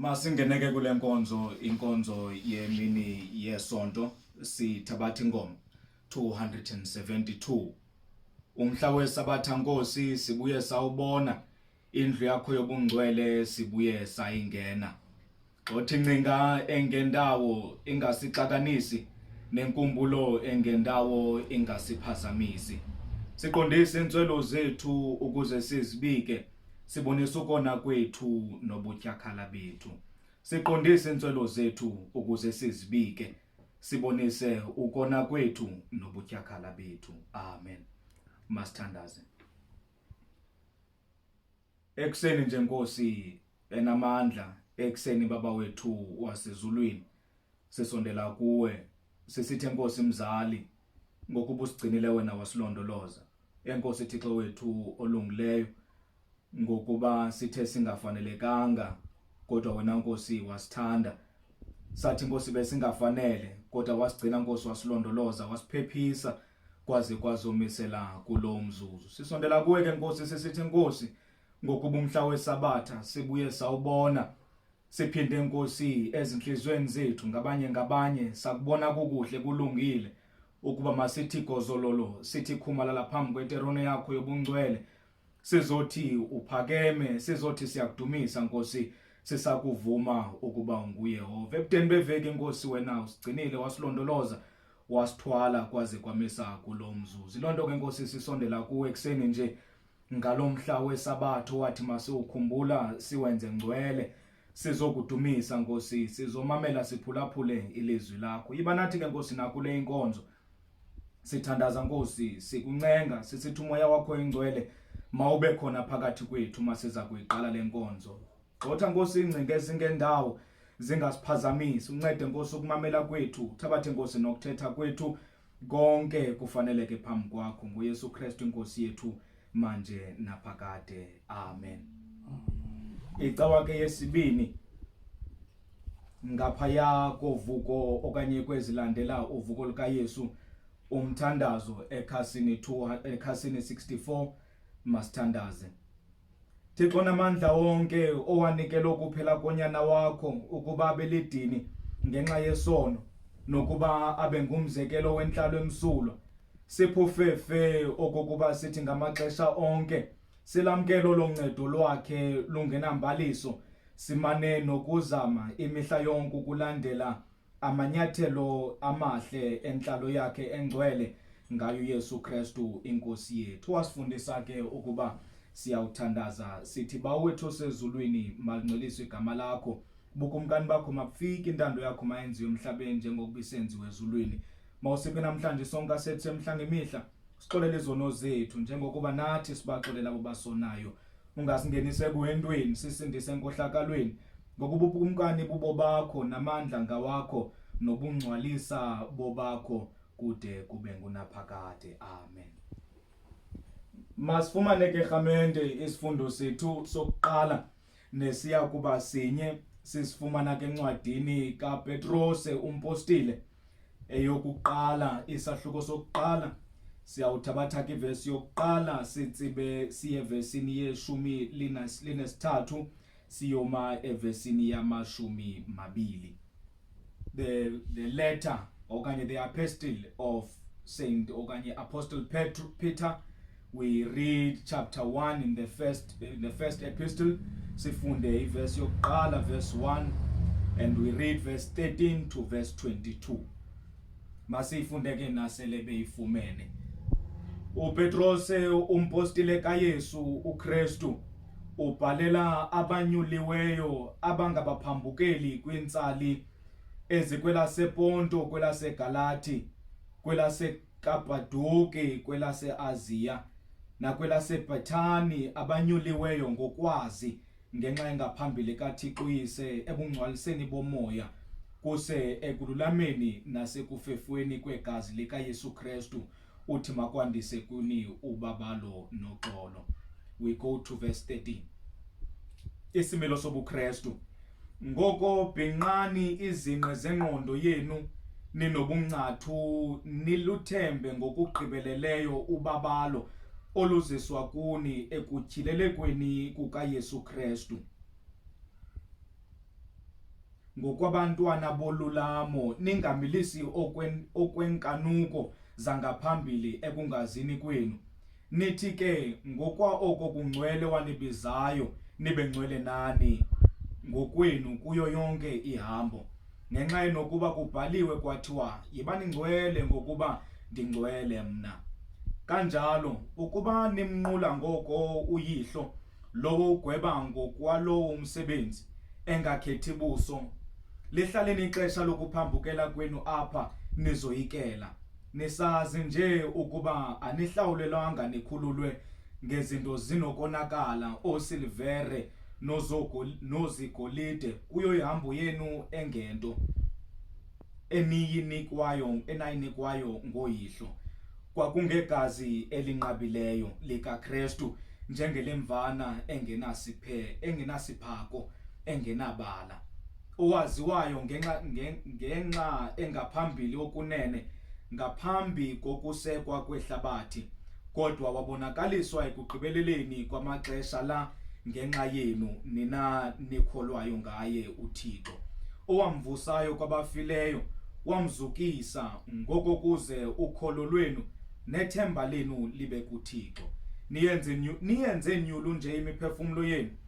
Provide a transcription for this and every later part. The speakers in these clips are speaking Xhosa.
Masingene ke kule nkonzo inkonzo yemini yesonto sithabatha inkomo 272 umhla wesabatha nkosi sibuye sawubona indlu yakho yobungcwele sibuye sayingena Xothi ncinga engendawo ingasixakanisi nenkumbulo engendawo ingasiphazamisi. Siqondise intswelo zethu ukuze sizibike, sibonise ukona kwethu nobutyakhala bethu. Siqondise intswelo zethu ukuze sizibike, sibonise ukona kwethu nobutyakhala bethu. Amen. Masithandaze. Ekuseni nje Nkosi enamandla, ekuseni Baba wethu wasezulwini, sisondela kuwe sisithi Nkosi mzali ngokuba usigcinile wena wasilondoloza. Enkosi Thixo wethu olungileyo ngokuba sithe singafanelekanga kodwa wena Nkosi wasithanda. Sathi Nkosi besingafanele kodwa wasigcina Nkosi wasilondoloza wasiphephisa kwaze kwazomisela kulo mzuzu sisondela kuwe ke nkosi sisithi nkosi ngokuba umhla wesabatha sibuye sawubona siphinde nkosi ezinhlizweni zethu ngabanye ngabanye sakubona kukuhle kulungile ukuba masithi gozololo sithi khumalala phambi kweterone yakho yobungcwele Sizothi uphakeme, sizothi siyakudumisa Nkosi, sisakuvuma ukuba unguYehova. Ebudeni beveki Nkosi wena usigcinile wasilondoloza wasithwala kwaze kwamisa kulo mzuzu. Lonto ke Nkosi sisondela kuwe ekseni nje ngalomhla wesabatho wathi masiwukhumbula siwenze ngcwele sizokudumisa Nkosi sizomamela siphulaphule ilizwi lakho. Yiba nathi ke Nkosi nakule inkonzo. Sithandaza Nkosi, sikuncenga sisithi umoya wakho oyingcwele mawube khona phakathi kwethu masiza kuyiqala lenkonzo. Gxotha Nkosi ingcinga ezingendawo zingasiphazamisi, uncede Nkosi ukumamela kwethu, uthabathe Nkosi nokuthetha kwethu konke kufaneleke phambi kwakho nguYesu Kristu inkosi yethu. manje naphakade amen icawa ke yesibini ngaphaya kovuko okanye kwezilandela uvuko lukayesu umthandazo ekhasini 2 ekhasini 64 masithandaze Thixo namandla onke owanikela ukuphela konyana wakho ukuba abelidini ngenxa yesono nokuba abe ngumzekelo wentlalo emsulwa siphufefe okokuba sithi ngamaxesha onke silamkelo loncedo lwakhe lungenambaliso simane nokuzama imihla yonke ukulandela amanyathelo amahle entlalo yakhe engcwele ngayo uYesu Kristu inkosi yethu wasifundisa ke ukuba siyawuthandaza sithi bawethu osezulwini malingcweliswe igama lakho bukumkani bakho mabufike intando yakho mayenziwe emhlabeni njengokuba isenziwe ezulwini mawusiphe namhlanje sonke asethu emhla ngemihla sixolele izono zethu njengokuba nathi sibaxolela abo basonayo Ungasingenisi ekuhentweni, sisindise enkohlakalweni, ngokuba ubukumkani bubobakho namandla ngawakho nobungcwalisa bobakho kude kube ngunaphakade. Amen. Masifumane ke rhamente isifundo sethu sokuqala nesiya kuba sinye sisifumana ke encwadini kaPetrose umpostile eyokuqala isahluko sokuqala siyawuthabatha ke ivesi yokuqala sitsibe siye evesini yeshumi linesithathu siyoma evesini yamashumi mabili the, the letter okanye the apostle of saint okanye apostle Petru, peter We read chapter 1 in the first, in the first epistle. Sifunde iverse yokuqala verse 1 and we read verse 13 to verse 22. Masiyifunde ke nasele beyifumene. UPetros umpostile kaYesu uKristu ubhalela abanyuliweyo abangabaphambukeli kwintsali ezikwelasePonto, kwelaseGalati, kwelase kaBhaduki kwelaseAziya nakwelaseBhethani abanyuliweyo ngokwazi ngenxa engaphambili kaThixo uyise ebungcwaliseni bomoya kuse ekululameni nasekufefweni kwegazi likaYesu Kristu uthi makwandise kuni ubabalo noxolo we go to verse 13 isimilo sobuKristu Ngoko bhinqani izinqe zengqondo yenu ninobungcathu niluthembe ngokugqibeleleyo ubabalo oluziswa kuni ekutyhilelekweni kukaYesu Kristu. Ngokwabantwana bolulamo ningamilisi okwenkanuko zangaphambili ekungazini kwenu. Nithi ke ngokwa oko kungcwele wanibizayo nibe ngcwele nani ngokwenu kuyo yonke ihambo ngenxa yenokuba kubhaliwe kwathiwa yibani ngcwele ngokuba ndingcwele mna kanjalo ukuba nimnqula ngoko uyihlo lowo ugweba ngokwalowo umsebenzi engakhethi buso lihlaleni ixesha lokuphambukela kwenu apha nizoyikela Nisazi nje ukuba anihlawulelwanga nikhululwe ngezinto zinokonakala oosilvere nozogo- nozigolide kuyo ihambo yenu engento eniyinikwayo enayinikwayo ngoyihlo kwakungegazi elinqabileyo likaKristu njengelemvana engenasiphe engenasiphako engenabala owaziwayo ngenxa ngenxa engaphambili okunene ngaphambi kokusekwa kwehlabathi kodwa wabonakaliswa ekugqibeleleni kwamaxesha la ngenxa yenu nina nikholwayo ngaye uThixo owamvusayo kwabafileyo wamzukisa ngoko kuze ukholo lwenu nethemba lenu libe kuThixo niyenze niyenze nyulu nje imiphefumulo yenu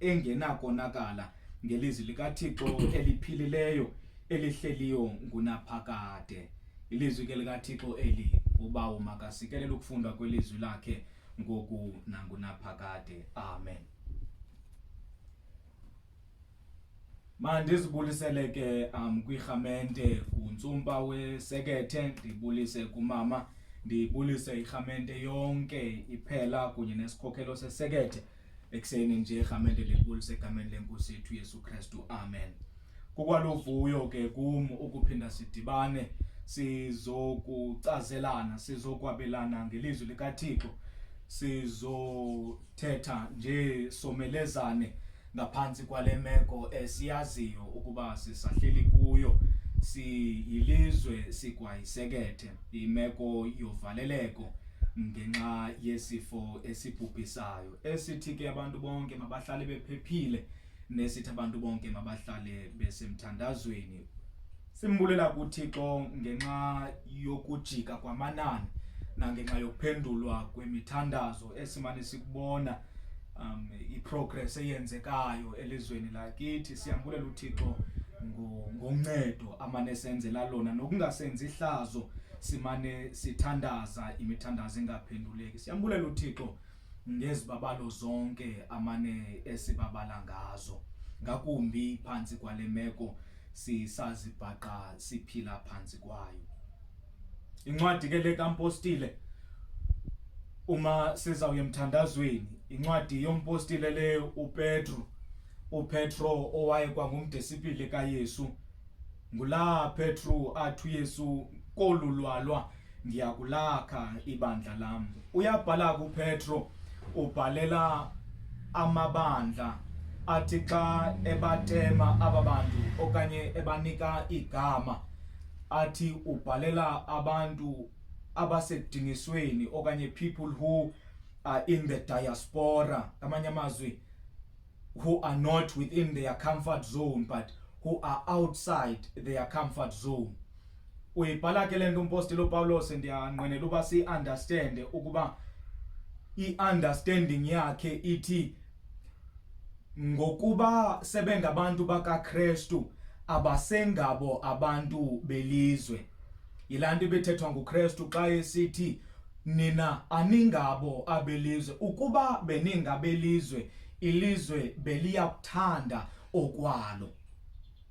engenakonakala ngelizwi likaThixo eliphilileyo elihleliyo ngunaphakade ilizwi ke likaThixo eli ubawo makasikelele ukufundwa kwelizwi lakhe ngoku nangunaphakade amen mandizibulisele ke um kwirhamente kuntsumpa wesekethe ndibulise kumama ndibulise irhamente yonke iphela kunye nesikhokhelo sesekethe ekuseni nje egameni lenkulu segameni lenkosi yethu Yesu Kristu amen kukwalovuyo ke kum ukuphinda sidibane sizokucazelana sizokwabelana ngelizwi likaThixo sizothetha nje somelezane ngaphansi kwale meko esiyaziyo ukuba sisahleli kuyo siyilizwe sigwayisekethe imeko yovaleleko ngenxa yesifo esibhubhisayo esithi ke abantu bonke mabahlale bephephile nesithi abantu bonke mabahlale besemthandazweni simbulela kuThixo ngenxa yokujika kwamanani nangenxa yokuphendulwa kwemithandazo esimane sikubona um iprogress eyenzekayo elizweni lakithi siyambulela uThixo ngoncedo amane senzela lona nokungasenzi ihlazo simane sithandaza imithandazo engaphenduleki siyambulela uthixo ngezibabalo zonke amane esibabala ngazo ngakumbi phantsi kwale meko sisazibhaqa siphila phantsi kwayo incwadi ke le kampostile uma sizawuye emthandazweni incwadi yompostile le upetro upetro owaye kwangumdisipili kayesu Ngulaa Petru athi uYesu kolu lwalwa ndiyakulakha ibandla lam. Uyabhala kuPetro ubhalela amabandla athi xa ebatema aba bantu okanye ebanika igama athi ubhalela abantu abasekudingisweni okanye people who are in the diaspora ngamanye amazwi who are not within their comfort zone but who are outside their comfort zone uyibhala ke le nto umpostile upawulos ndiyanqwenela uba siyiunderstande ukuba i-understanding yakhe ithi ngokuba sebengabantu bakakrestu abasengabo abantu belizwe Yilaa nto ibithethwa nguKristu xa esithi nina aningabo abelizwe ukuba beningabelizwe ilizwe beliya kuthanda okwalo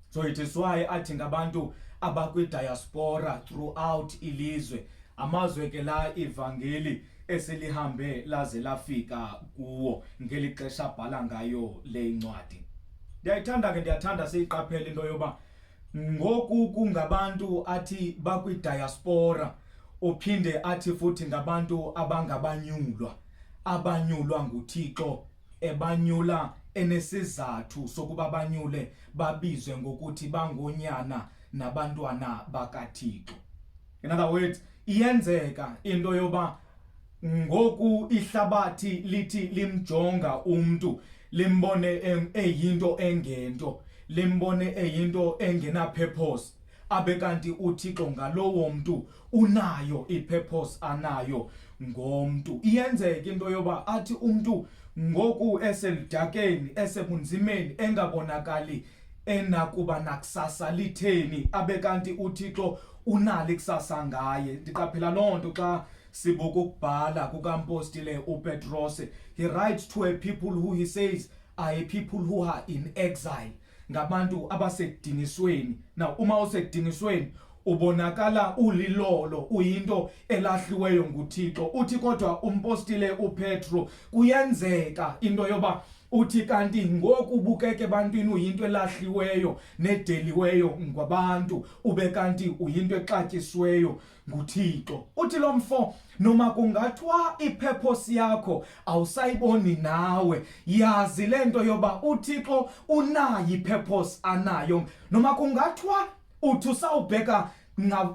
so it is why athi ngabantu abakwidiaspora throughout ilizwe amazwe ke la ivangeli eselihambe laze lafika kuwo ngeli xesha abhala ngayo le incwadi ndiyayithanda ke ndiyathanda siyiqaphele into yoba ngoku kungabantu athi bakwidiaspora uphinde athi futhi ngabantu abangabanyulwa abanyulwa nguthixo ebanyula enesizathu sokuba banyule babizwe ngokuthi bangonyana nabantwana bakathixo in other words iyenzeka into yoba ngoku ihlabathi lithi limjonga umntu limbone eyinto engento limbone eyinto engenapurpose abe kanti uthixo ngalowo mntu unayo ipurpose anayo ngomntu iyenzeka into yoba athi umntu ngoku eselidakeni esebunzimeni engabonakali enakuba nakusasa litheni abe kanti uthixo unalo ikusasa ngaye ndiqaphela loo nto xa Sibuka ukubhala kukampostile uPetrose. He writes to a people who he says are a people who are in exile. Ngabantu abasedingisweni. Now uma usedingisweni ubonakala ulilolo uyinto elahliweyo nguThixo. Uthi kodwa umpostile uPetro kuyenzeka into yoba uthi kanti ngoku bukeke ebantwini uyinto elahliweyo nedeliweyo ngwabantu ube kanti uyinto exatyisiweyo nguThixo. Uthi lo mfo noma kungathiwa iphephosi yakho awusayiboni nawe yazi le nto yoba uthixo unayo iphephosi anayo noma kungathiwa uthi usawubheka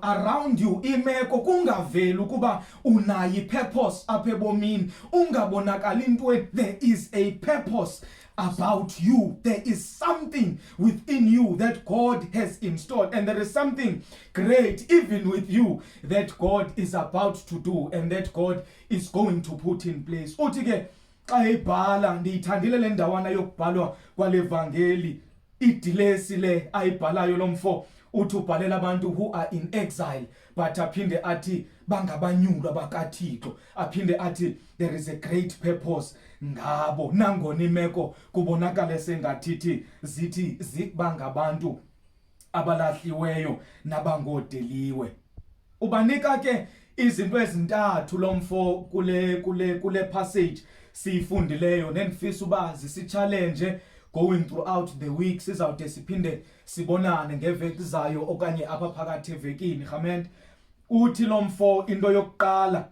around you imeko kungaveli ukuba unayo ipurpose apha ebomini ungabonakali intweni there is a purpose about you. There is something within you that God has installed, and there is something great even with you that God is about to do and that God is going to put in place. Uthi ke xa ibhala ndiyithandile le ndawana yokubhalwa kwale vangeli idilesi le ayibhalayo lo mfo uthi ubhalela abantu who are in exile but aphinde athi bangabanyulwa bakathixo aphinde athi there is a great purpose ngabo nangona imeko kubonakale sengathithi zithi zikuba ngabantu abalahliweyo nabangodeliwe ubanika ke izinto ezintathu lo mfo kule kule kule passage siyifundileyo nendifisa uba zisitshalenje going throughout the week sizawude siphinde sibonane ngeveki zayo okanye apha phakathi evekini rhament uthi lo mfo into yokuqala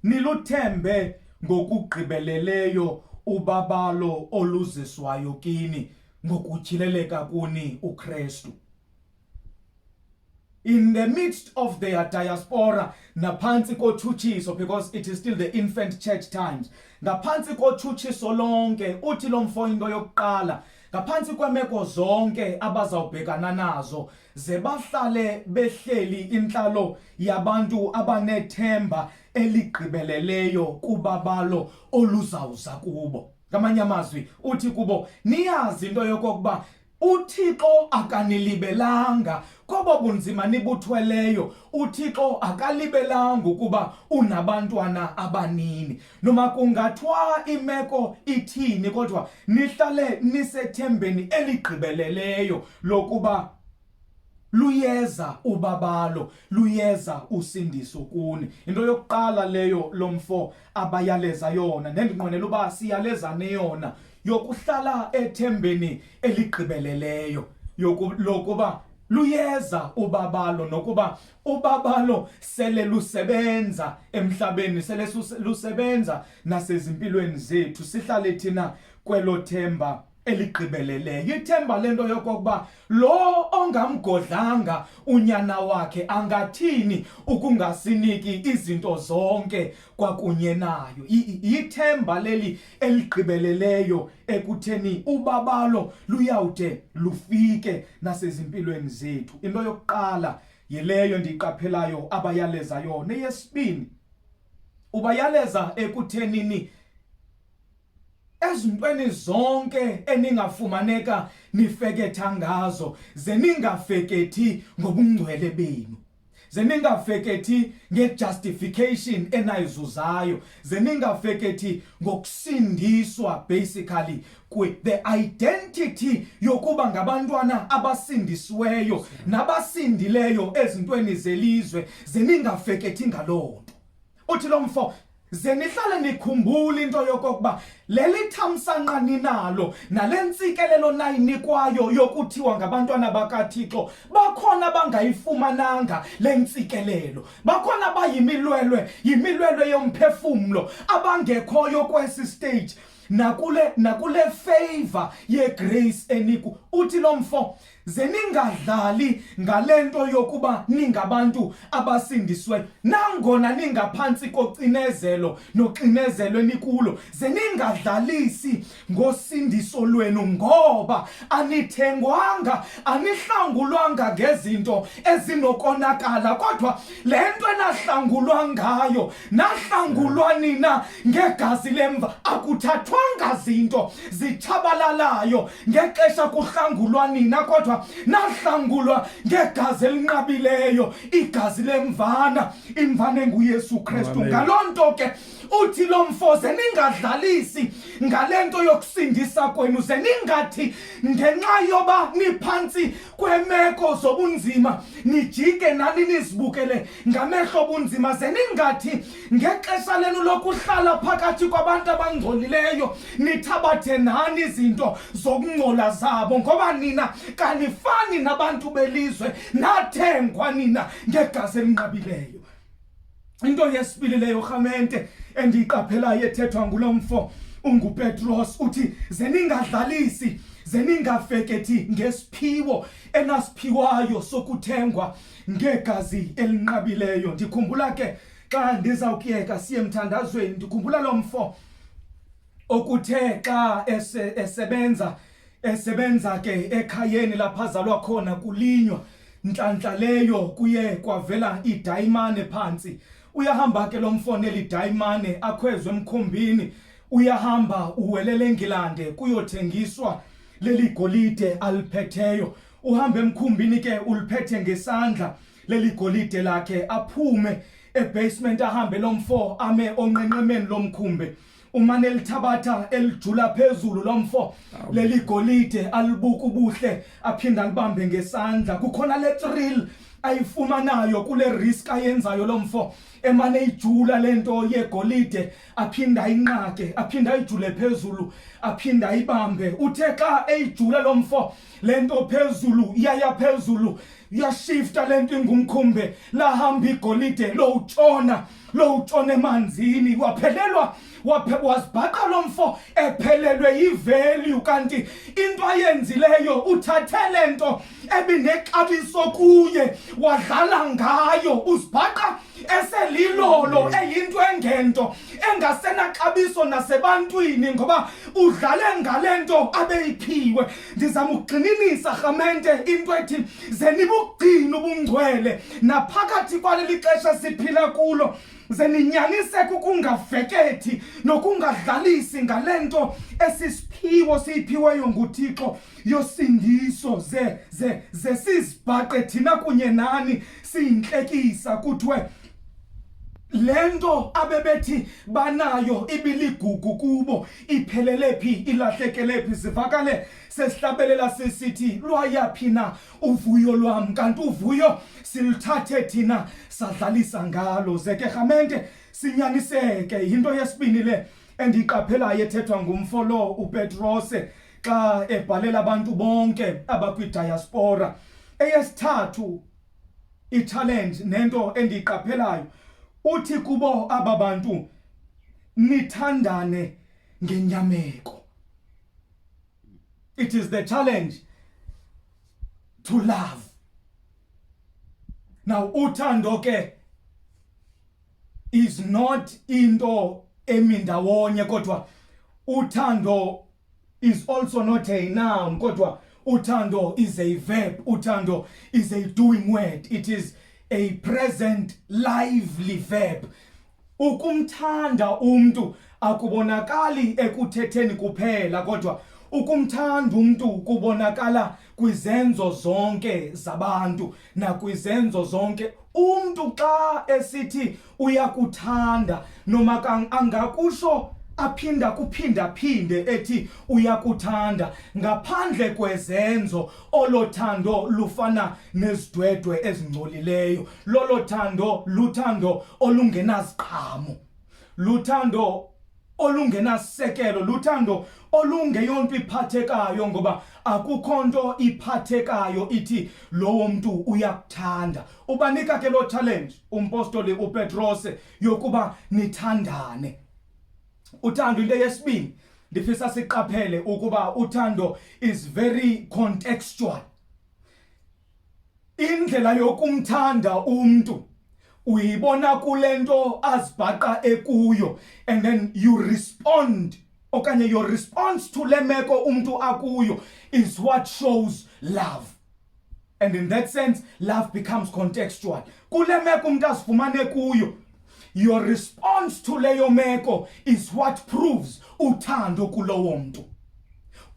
niluthembe ngokugqibeleleyo ubabalo oluziswayo kini ngokutyhileleka kuni uKristu in the midst of their diaspora naphantsi kotshutshiso because it is still the infant church times ngaphantsi kotshutshiso lonke uthi lo mfo into yokuqala ngaphantsi kwemeko zonke abazawubhekana nazo ze bahlale behleli intlalo yabantu abanethemba eligqibeleleyo kubabalo oluzawuza kubo ngamanye amazwi uthi kubo niyazi into yokokuba UThixo akanilibelanga kobo bunzima nibuthweleyo. UThixo akalibelanga ukuba unabantwana abanini. Noma kungathwa imeko ithini kodwa nihlale nisethembeni eligqibeleleyo lokuba luyeza ubabalo luyeza usindiso kuni into yokuqala leyo lomfo abayaleza yona nendinqwenela uba siyalezane yona yokuhlala ethembeni eligqibeleleyo lokuba luyeza ubabalo nokuba ubabalo sele lusebenza emhlabeni sele lusebenza nasezimpilweni zethu sihlale thina kwelo themba eligqibeleleyo ithemba lento yokokuba lo ongamgodlanga unyana wakhe angathini ukungasiniki izinto zonke kwakunye nayo yithemba leli eligqibeleleyo ekutheni ubabalo luyawude lufike nasezimpilweni zethu into yokuqala yileyo ndiyiqaphelayo abayaleza yona eyesibini ubayaleza ekuthenini ezintweni zonke eningafumaneka nifeketha ngazo ze ningafekethi ngobungcwele benu ze ningafekethi ngejustification enayizuzayo ze ningafekethi ngokusindiswa basically kwi the identity yokuba ngabantwana abasindisiweyo nabasindileyo ezintweni zelizwe ze ningafekethi ngaloo nto uthi lo mfo ze nihlale nikhumbula into yokokuba lelithamsanqa ninalo nale ntsikelelo nayinikwayo yokuthiwa ngabantwana bakathixo bakhona bangayifumananga le ntsikelelo bakhona bayimilwelwe yimilwelwe yomphefumlo abangekhoyo kwesi stage nakule nakule favor yegrace eniku uthi lo mfo ze ningadlali ngale nto yokuba ningabantu abasindisweyo nangona ningaphantsi kocinezelo noxinezelwe nikulo ze ningadlalisi ngosindiso lwenu ngoba anithengwanga anihlangulwanga ngezinto ezinokonakala kodwa le nto enahlangulwa ngayo nahlangulwa nina ngegazi lemva akuthathwanga zinto zitshabalalayo ngexesha kuhlangulwa nina kodwa nahlangulwa ngegazi elinqabileyo igazi lemvana imvana enguyesu kristu ngaloo nto ke uthi lo mfo ze ningadlalisi ngale nto yokusindisa kwenu ze ningathi ngenxa yoba niphantsi kweemeko zobunzima nijike nani nizibukele ngamehlo obunzima ze ningathi ngexesha lenu lokuhlala phakathi kwabantu abangcolileyo nithabathe nani izinto zokungcola zabo ngoba nina kanifani nabantu belizwe nathengwa nina ngegazi elinqabileyo into yesibili leyo rhamente endiyiqaphelayo ethethwa ngulo mfo ungupetros uthi ze ningadlalisi ze ningafekethi ngesiphiwo enasiphiwayo sokuthengwa ngegazi elinqabileyo ndikhumbula ke xa ndizawukuyeka siye emthandazweni ndikhumbula lo mfo okuthe xa ese, esebenza esebenza ke ekhayeni lapha azalwa khona kulinywa ntlantla leyo kuye kwavela idayimane phantsi uyahamba ke lo mfo neli dayimane akhwezwe emkhumbini uyahamba uwelele engilande kuyothengiswa leli golide aliphetheyo uhamba emkhumbini ke uliphethe ngesandla leli golide lakhe aphume ebasement ahambe lomfo ame onqenqemeni lomkhumbe umane elithabatha elijula phezulu lomfo leli golide alibuka ubuhle aphinda alibambe ngesandla kukhona le thrill ayifumanayo kule risk ayenzayo lomfo emane ijula lento yegolide aphinda inqake aphinda ijule phezulu aphinda ibambe uthe xa eyijula lomfo le nto phezulu iyaya phezulu yashifta le nto ingumkhumbe lahamba igolide lowutshona lowutshona emanzini waphelelwa wazibhaqa lo mfo ephelelwe yivelyu kanti into ayenzileyo uthathe le nto ebinexabiso kuye wadlala ngayo uzibhaqa eselilolo eyinto engento engasenaxabiso nasebantwini ngoba udlale ngale nto abeyiphiwe ndizama ukugxininisa rhamente into ethi ze nibugcina ubungcwele naphakathi kwaleli xesha siphila kulo ze ninyaniseke ukungafekethi nokungadlalisi ngale nto esisiphiwo siyiphiweyo nguthixo yosindiso ze ze ze sizibhaqe thina kunye nani siyintlekisa kuthiwe le nto abebethi banayo ibiligugu kubo iphelele phi ilahlekele phi sivakale sesihlabelela sisithi lwayaphi na uvuyo lwam kanti uvuyo siluthathe thina sadlalisa ngalo zeke rhamente sinyaniseke yinto yesibini le endiyiqaphelayo ethethwa ngumfo lo upetrose xa ebhalela abantu bonke abakwidyaspora eyesithathu i-challenge nento endiyiqaphelayo uthi kubo aba bantu nithandane ngenyameko it is the challenge to love now uthando ke is not into emi ndawonye kodwa uthando is also not a noun kodwa uthando is a verb uthando is a doing word it is a present lively verb ukumthanda umntu akubonakali ekuthetheni kuphela kodwa ukumthanda umntu kubonakala kwizenzo zonke zabantu nakwizenzo zonke umntu xa esithi uyakuthanda noma angakusho aphinda kuphindaphinde ethi uyakuthanda ngaphandle kwezenzo olo thando lufana nezidwedwe ezingcolileyo lolo thando luthando olungenaziqhamo luthando olungenasekelo luthando olungeyonto iphathekayo ngoba akukho nto iphathekayo ithi lowo mntu uyakuthanda ubanika ke loo challenge umpostoli upetrose yokuba nithandane uthando into yesibini ndifisa siqaphele ukuba uthando is very contextual Indlela yokumthanda umntu uyibona kule nto azibhaqa ekuyo and then you respond okanye your response to le meko umntu akuyo is what shows love and in that sense love becomes contextual kule meko umntu azifumane kuyo Your response to leyo meko is what proves uthando kulowo mntu.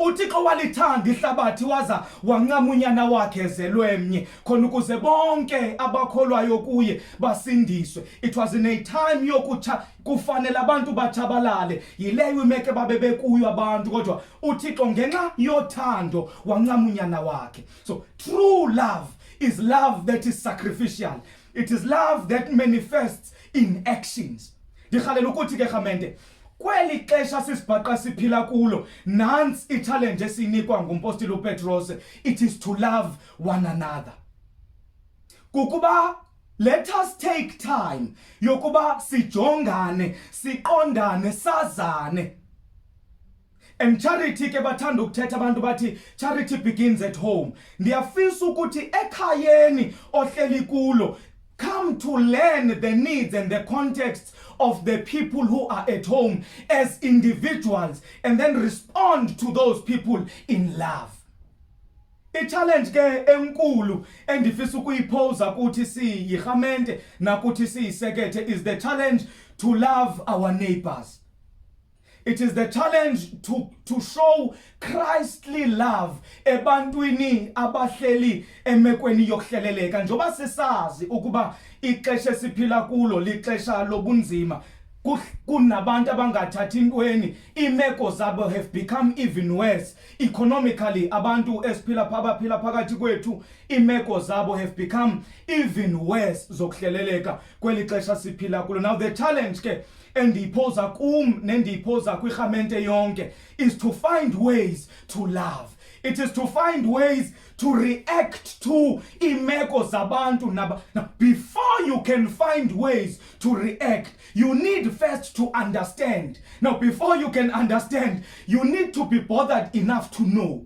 uthixo walithanda ihlabathi waza wancama unyana wakhe ezelwe mnye khona ukuze bonke abakholwayo kuye basindiswe it was in a time yokutsha kufanele abantu batshabalale yileyo imeko ebabe bekuyo abantu kodwa uthixo ngenxa yothando wancama unyana wakhe so true love is love that is sacrificial It is love that manifests in actions. Ndirhalela ukuthi ke rhamente kweli xesha sisibhaqa siphila kulo nantsi itshalenji esiyinikwa ngumpostile upetros it is to love one another kukuba let us take time yokuba sijongane siqondane sazane and charity ke bathanda ukuthetha abantu bathi charity begins at home ndiyafisa ukuthi ekhayeni ohleli kulo come to learn the needs and the contexts of the people who are at home as individuals and then respond to those people in love i-challenge ke enkulu endifisa ukuyiphosa kuthi siyirhamente nakuthi siyisekethe is the challenge to love our neighbors It is the challenge to, to show Christly love ebantwini abahleli emekweni yokuhleleleka njengoba sisazi ukuba ixesha esiphila kulo lixesha lobunzima kunabantu abangathathi intweni imeko zabo have become even worse economically abantu esiphila abaphila phakathi kwethu imeko zabo have become even worse zokuhleleleka kweli xesha siphila kulo now the challenge ke endiyiphoza kum nendiyiphoza kwirhamente yonke is to find ways to love it is to find ways to react to imeko zabantu naba now, before you can find ways to react you need first to understand now before you can understand you need to be bothered enough to know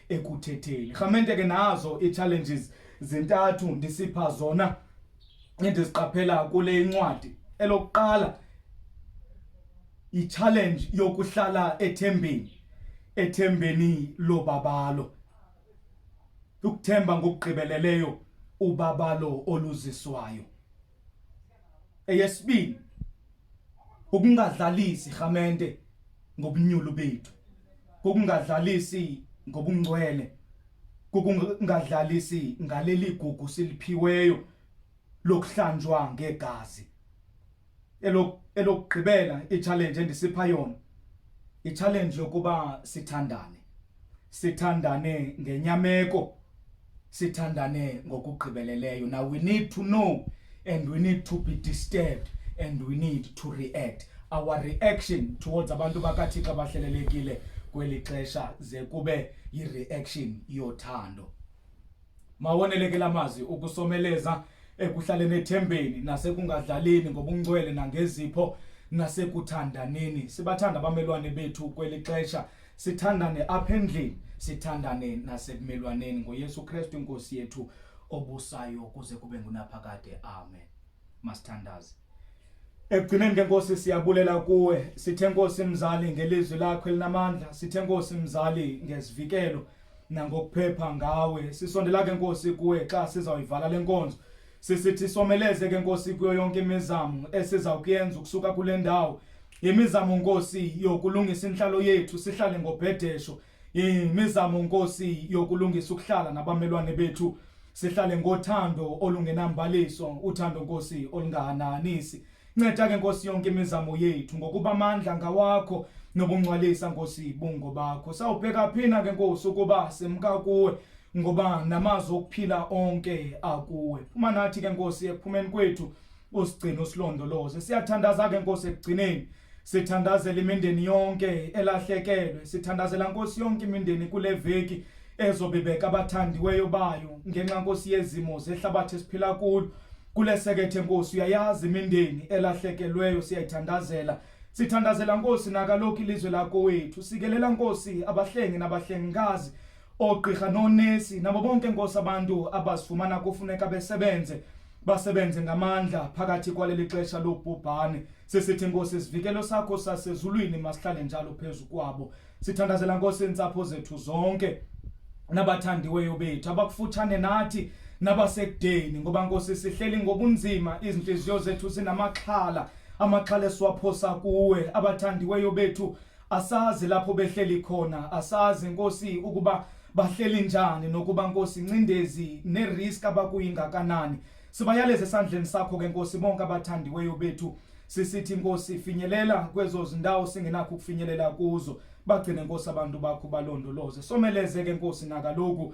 ekuthetheni rhamente ke nazo ii-challenges zintathu ndisipha zona endiziqaphela kule incwadi elokuqala yi-challenge yokuhlala ethembeni ethembeni lobabalo ukuthemba ngokugqibeleleyo ubabalo oluziswayo Eyesibini, ukungadlalisi rhamente ngobunyulu bethu, kukungadlalisi ngobungcwele, kukungadlalisi ngaleli gugu siliphiweyo lokuhlanjwa ngegazi. Elokugqibela i-challenge endisipha yona, i-challenge yokuba sithandane, sithandane ngenyameko. sithandane ngokugqibeleleyo now we need to know and we need to be disturbed and we need to react our reaction towards abantu bakathixo abahlelelekile kweli xesha ze kube yi-reaction yothando mawoneleke la mazwi ukusomeleza ekuhlaleni ethembeni nasekungadlaleni ngobungcwele nangezipho nasekuthandaneni sibathanda abamelwane bethu kweli xesha sithandane apha endlini sithandane nasebumelwaneni ngoyesu kristu inkosi yethu obusayo kuze kube ngunaphakade amen masithandaze ekugcineni ke nkosi siyabulela kuwe sithe nkosi mzali ngelizwi lakho elinamandla sithe nkosi mzali ngezivikelo nangokuphepha ngawe sisondela ke nkosi kuwe xa sizawuyivala le nkonzo sisithi someleze ke nkosi kuyo yonke imizamo esizawukuyenza ukusuka kule ndawo yimizamo nkosi yokulungisa inhlalo yethu sihlale ngobhedesho yimizamo nkosi yokulungisa ukuhlala nabamelwane bethu sihlale ngothando olungenambaliso uthando nkosi olungahananisi nceda ke nkosi yonke imizamo yethu ngokuba amandla ngawakho nobungcwalisa nkosi bungo bakho sawubheka phina ke nkosi ukuba simka kuwe ngoba namazwi okuphila onke akuwe phuma nathi ke nkosi ekuphumeni kwethu usigcine usilondoloze siyathandaza ke nkosi ekugcineni sithandazela imindeni yonke elahlekelwe sithandazela nkosi yonke imindeni kule veki ezobibeka abathandiweyo bayo ngenxa nkosi yezimo zehlabathi esiphila kulo kulesekethe nkosi uyayazi imindeni elahlekelweyo siyayithandazela sithandazela nkosi nakalokhu ilizwe lakowethu sikelela nkosi abahlengi nabahlengikazi Oogqirha noonesi nabo bonke nkosi abantu abazifumana kufuneka besebenze basebenze ngamandla phakathi kwaleli xesha lobhubhane sisithi nkosi isivikelo sakho sasezulwini masihlale njalo phezu kwabo sithandazela nkosi iintsapho zethu zonke nabathandiweyo bethu abakufutshane nathi nabasekudeni ngoba nkosi sihleli ngobunzima izintliziyo zethu zinamaxhala amaxhala esiwaphosa kuwe abathandiweyo bethu asazi lapho behleli khona asazi nkosi ukuba bahleli njani nokuba nkosi ncindezi nerisk abakuyingakanani sibayaleze esandleni sakho ke nkosi bonke abathandiweyo bethu sisithi nkosi finyelela kwezo zindawo singenakho ukufinyelela kuzo bagcine nkosi abantu bakho balondoloze someleze ke nkosi nakaloku